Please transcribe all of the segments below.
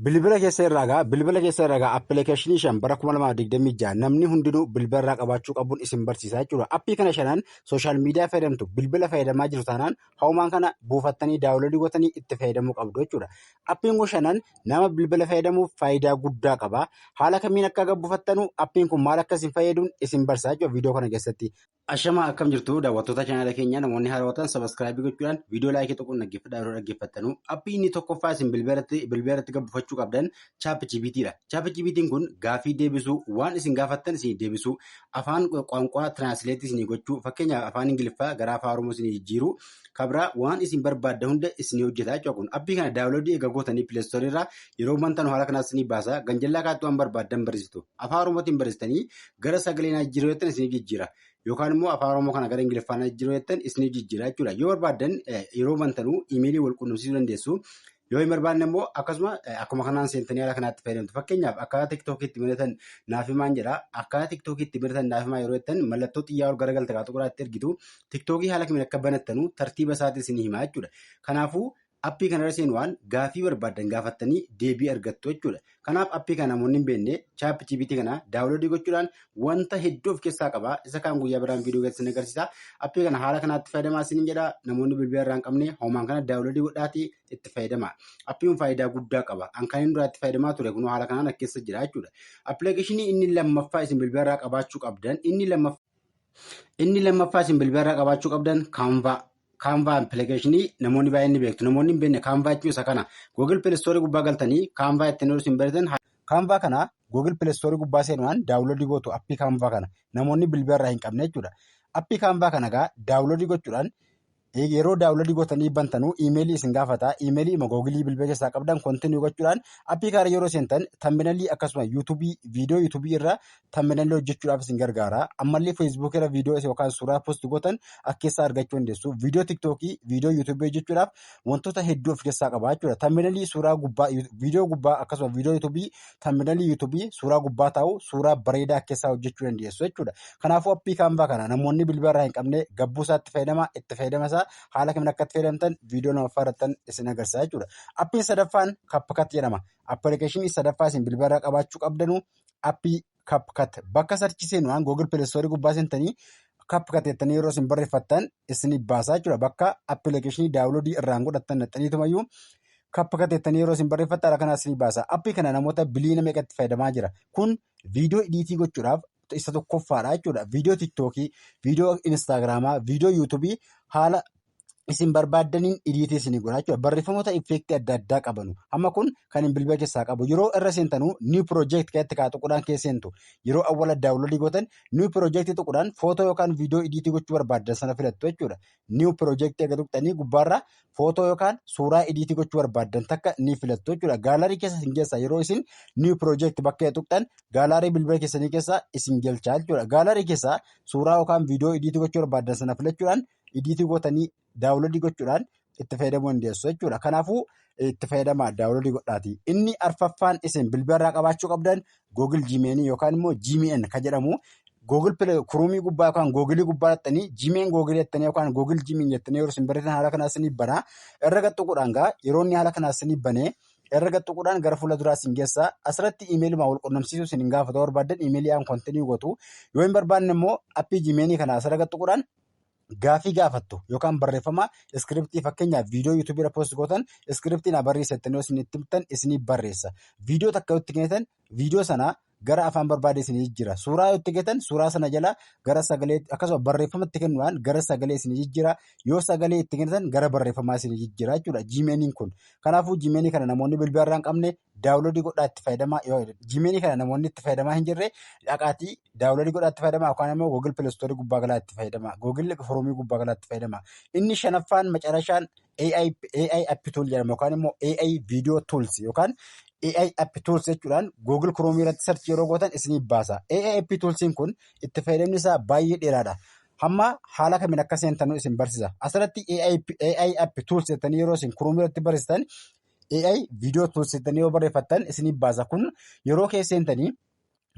Bilbila keessa irraa gaa bilbila keessa irraa gaa appilikeeshinii shan bara 2026 namni hundinuu bilbila irraa qabaachuu qabuun isin barsiisaa jechuudha. Appii kana shanan sooshaal miidiyaa fayyadamtu bilbila fayyadamaa jiru taanaan hawumaan kana buufattanii daawuloodii gootanii itti fayyadamuu qabdu jechuudha. Appiin kun shanan nama bilbila fayyadamuuf faayidaa guddaa qaba. Haala kamiin akka buufattanu appiin kun maal akka isin fayyaduun isin barsiisaa jechuudha viidiyoo kana keessatti. Ashama akkam jirtu daawwattoota chaanaala keenyaa namoonni haaraa ta'an sabaskiraayibii gochuudhaan viidiyoo laayikii tokkoon dhaggeeffadhaa yeroo dhaggeeffattanu appii inni tokkoffaa isin bilbilarratti bilbilarratti gabbifachuu qabdan chaap jibiitiidha. Chaap jibiitiin kun gaafii deebisuu waan isin gaafattan isin deebisuu afaan qaanqaa tiraansileetii isin gochuu fakkeenyaaf afaan ingiliffaa gara afaan oromoo isin jijjiiruu kabraa waan isin barbaadda hunda isin hojjeta jechuudha kun appii kana daawuloodii eega gootanii pileestoorii irraa yeroo bantan haala kanaas isin baasa ganjallaa kaatti waan barbaaddan barreessitu afaan oromootiin barreessitanii gara sagalee naa jijjiiruu jettan isiniif jijjiira. Yookaan immoo afaan Oromoo kana gara Ingiliffaa naa jijjiiruu jettan isiniif jijjiira jechuudha. Yoo barbaaddan yeroo bantanuu imeelii wal quunnamsiisuu dandeessu. Yoo hin barbaanne immoo akkasuma akkuma kanaan seentanii haala kanaatti fayyadamtu. Fakkeenyaaf akkaataa tiktookii itti banatan naaf himaan jedha. Akkaataa tiktookii itti banatan naaf himaa yeroo jettan mallattoo xiyyaa ol gara galta kaatu qoraatti ergitu. Tiktookii haala kamiin akka banattanu tartiiba isaatiin isinii himaa jechuudha. Kanaafuu Appii kana irra seenuwaan gaafii barbaaddan gaafattanii deebii argattu jechuudha. Kanaaf appii kana namoonni hin beekne chaap GPT kana daawuloodii gochuudhaan wanta hedduu of keessaa qaba. Isa kaan guyyaa biraan viidiyoo keessatti isin agarsiisa. Appii kana haala kanaatti fayyadamaa isiniin jedha. Namoonni bilbila irraa hin qabne homaan kana daawuloodii godhaatii itti fayyadamaa. Appii kun faayidaa guddaa qaba. An kan inni duraa itti fayyadamaa ture kunoo haala kanaan as keessa jira jechuudha. Appilikeeshinii inni lammaffaa isin bilbila irraa qabaachuu qabdan inni lammaffaa inni lammaffaa isin bilbila irraa qabaachuu qabdan kaanvaa Kaanvaa appilikeeshinii namoonni baay'een ni beektu. Namoonni hin beekne kaanvaa jechuun isa kana. Google Play Store gubbaa galtanii kaanvaa ittiin hojjetu hin beektan. Kaanvaa kana Google Play Store gubbaa seenuudhaan daawunloodii gootu appii kaanvaa kana. Namoonni bilbila irraa hin qabne jechuudha. Appii kaanvaa kana egaa daawunloodii gochuudhaan yeroo daawunloodii gootanii bantanuu iimeelii isin gaafata. Iimeelii ima googilii bilbila keessaa qabdan kontinuu gochuudhaan appii kana yeroo seentan tamminalii akkasuma yuutuubii viidiyoo yuutuubii irra tammelanillee hojjechuudhaaf isin gargaara. Ammallee Facebook irra viidiyoo yookaan suuraa post gootan akka keessaa argachuu dandeessu. Viidiyoo TikTokii, viidiyoo YouTube hojjechuudhaaf wantoota hedduu of keessaa qaba jechuudha. Tammelanilii suuraa gubbaa, viidiyoo gubbaa akkasuma viidiyoo YouTube, tammelanilii YouTube suuraa gubbaa taa'u suuraa bareedaa keessaa hojjechuu dandeessu jechuudha. Kanaafuu appii kaanvaa kana namoonni bilbila irraa hin qabne gabbuu isaatti fayyadama, itti fayyadama isaa haala kamiin akka itti fayyadamtan viidiyoo lamaffaa irrattan isin agarsiisa jechuudha. Appiin sadaffaan CapCut jedhama. Appilikeeshinii sadaffaa isin bilbila irraa qabaachuu qabdanu appii CapCut bakka sarchi seenu waan Google Play Store gubbaa seentanii CapCut jettanii yeroo isin barreeffattan isiniif baasaa jechuudha. Bakka appilikeeshinii daawuloodii irraan godhattan naxxaniitumayyuu CapCut jettanii yeroo isin barreeffattan haala kanaa isiniif baasaa. Appii kana namoota biliyoona meeqatti fayyadamaa jira. Kun viidiyoo idiitii gochuudhaaf isa tokkoffaadha jechuudha. Viidiyoo tiktookii, viidiyoo instaagiraamaa, viidiyoo yuutuubii haala isin barbaaddaniin idiitii isin godha jechuudha. Barreeffamoota effeektii adda addaa qabanu. Amma kun kan hin bilbila keessaa qabu. Yeroo irra seentanu new project keessatti kaa tuqudhaan keessa seentu. Yeroo awwala daawunloodii gootan new project tuqudhaan footoo yookaan viidiyoo idiitii gochuu barbaaddan sana filattu jechuudha. New project eega tuqxanii gubbaarra footoo yookaan suuraa idiitii gochuu barbaaddan takka ni filattu jechuudha. Gaalarii keessa isin geessa. Yeroo isin new project bakka tuqxan gaalarii bilbila keessanii keessa isin galchaa jechuudha. Gaalarii keessa suuraa yookaan viidiyoo idiitii gochuu barbaaddan sana filachuudhaan idiitii gootanii daawuloodii gochuudhaan itti fayyadamuu dandeessu jechuudha. Kanaafuu itti fayyadamaa daawuloodii godhaati. Inni arfaffaan isin bilbilarraa qabaachuu qabdan Google Gmail yookaan immoo Gmail kan jedhamu Google Play Chrome gubbaa yookaan Google gubbaa jettanii Gmail Google jettanii yookaan Google Gmail jettanii yeroo isin barreessan haala kanaa isinii bana. Irra gaxxuquudhaan gaa yeroo inni haala kanaa isinii banee irra gaxxuquudhaan gara fuula duraa isin geessa. Asirratti imeeliidhuma wal qunnamsiisuu isin hin gaafatu barbaaddan imeelii aan kontinii gootu. Yoo hin barbaanne immoo appii Gmail kana asirra gaxxuquudhaan gaafii gaafattu yookaan barreeffama iskiriptii fakkeenyaaf viidiyoo yuutuubii irra poost gootan iskiriptii na barreessa jettanii isin itti himtan isinii barreessa. Viidiyoo takka yoo itti kennitan viidiyoo sana gara afaan barbaade isinii jijjiira. Suuraa yoo itti kennitan suuraa sana jala gara sagalee akkasuma barreeffama itti kennuudhaan gara sagalee isinii jijjiira. Yoo sagalee itti kennitan gara barreeffamaa isinii jijjiira jechuudha jiimeeniin kun. Kanaafuu jiimeenii kana namoonni bilbila irraa hin qabne daawunloodii godhaa itti fayyadamaa yoo jimeelii kana namoonni itti fayyadamaa hin jirre dhaqaatii daawunloodii godhaa itti fayyadamaa yookaan immoo googil pilastoorii gubbaa galaa itti fayyadamaa googil foorumii gubbaa galaa itti fayyadamaa inni shanaffaan macarashaan AI AI app tool jedhama yookaan immoo AI video tools yookaan AI app tools jechuudhaan googil kiroomii irratti sarchi yeroo gootan isiniif baasa AI app toolsiin kun itti fayyadamni isaa baay'ee dheeraadha. Hamma haala kamiin akka seentanuu isin barsiisa. Asirratti AI app tools jettanii yeroo isin kiroomii irratti barreessitan AI viidiyoo tools jettanii yoo barreeffattan isiniif baasa kun yeroo keessa seentanii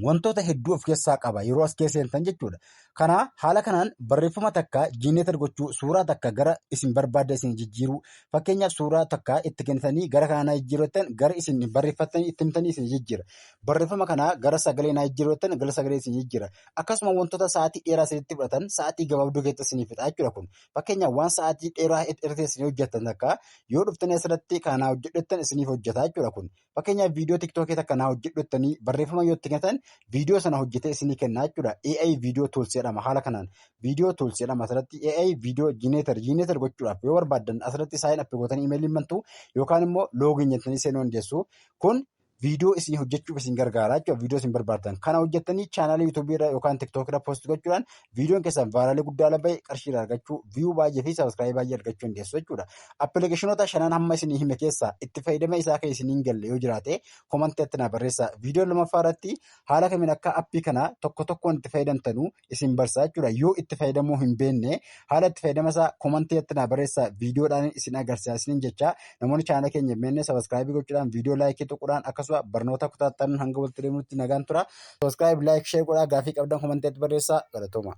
wantoota hedduu of keessaa qaba yeroo as keessa seentan jechuudha. Kana haala kanaan barreeffama takka jiineetar gochuu suuraa takka gara isin barbaadda isin jijjiiruu fakkeenyaaf suuraa takka itti kennitanii gara kanaa naa jijjiirrattan gara isin barreeffattanii itti himtanii isin jijjiira. Barreeffama kanaa gara sagalee naa jijjiirrattan gara sagalee isin jijjiira. Akkasuma wantoota sa'aatii dheeraa isinitti fudhatan sa'aatii gabaabduu keessatti isin fixa jechuudha kun. Fakkeenyaaf waan sa'aatii dheeraa irratti isin hojjettan takka yoo dhuftan asirratti kanaa hojjedhettan isiniif hojjeta jechuudha kun. Fakkeenyaaf viidiyoo tiktookii takka naa hojjedhettanii barreeffama yoo itti gatan viidiyoo sana hojjetee isinii kennaa jechuudha. AI viidiyoo tools jedhama haala kanaan. Viidiyoo tools jedhama asirratti AI viidiyoo jiineetar jiineetar gochuudhaaf yoo barbaaddan asirratti saayeen appi gootanii imeelii bantu yookaan immoo loogiin jettanii seenuu dandeessu. Kun viidiyoo isin hojjechuuf isin gargaara jechuudha. Viidiyoo isin barbaaddan kana hojjettanii chaanaalii yuutuubii irra yookaan tiktookii irra poost gochuudhaan viidiyoon keessan vaayiraalii guddaa lafa qarshii irraa argachuu viiyuu baay'ee fi sabiskiraayii baay'ee argachuu dandeessu jechuudha. Appilikeeshinoota shanan hamma isin hime keessaa itti fayyadama isaa kan isin hin galle yoo jiraate komanteetti naa barreessaa. Viidiyoo lamaffaa irratti haala kamiin akka appii kana tokko tokkoon itti fayyadamtanu isin barsaa jechuudha. Yoo itti fayyadamuu hin beekne haala itti fayyadama isaa komantii irratti naa barreessaa viidiyoodhaan isin agarsiisaa isiniin jecha namoonni chaanala keenya hin beekne sabaskiraayibii gochuudhaan viidiyoo laayikii tuquudhaan akkasuma barnoota kutaattan hanga walitti deemuutti nagaan tura. Sabaskiraayibii laayik sheer godhaa gaafii qabdan komantii irratti barreessaa galatooma.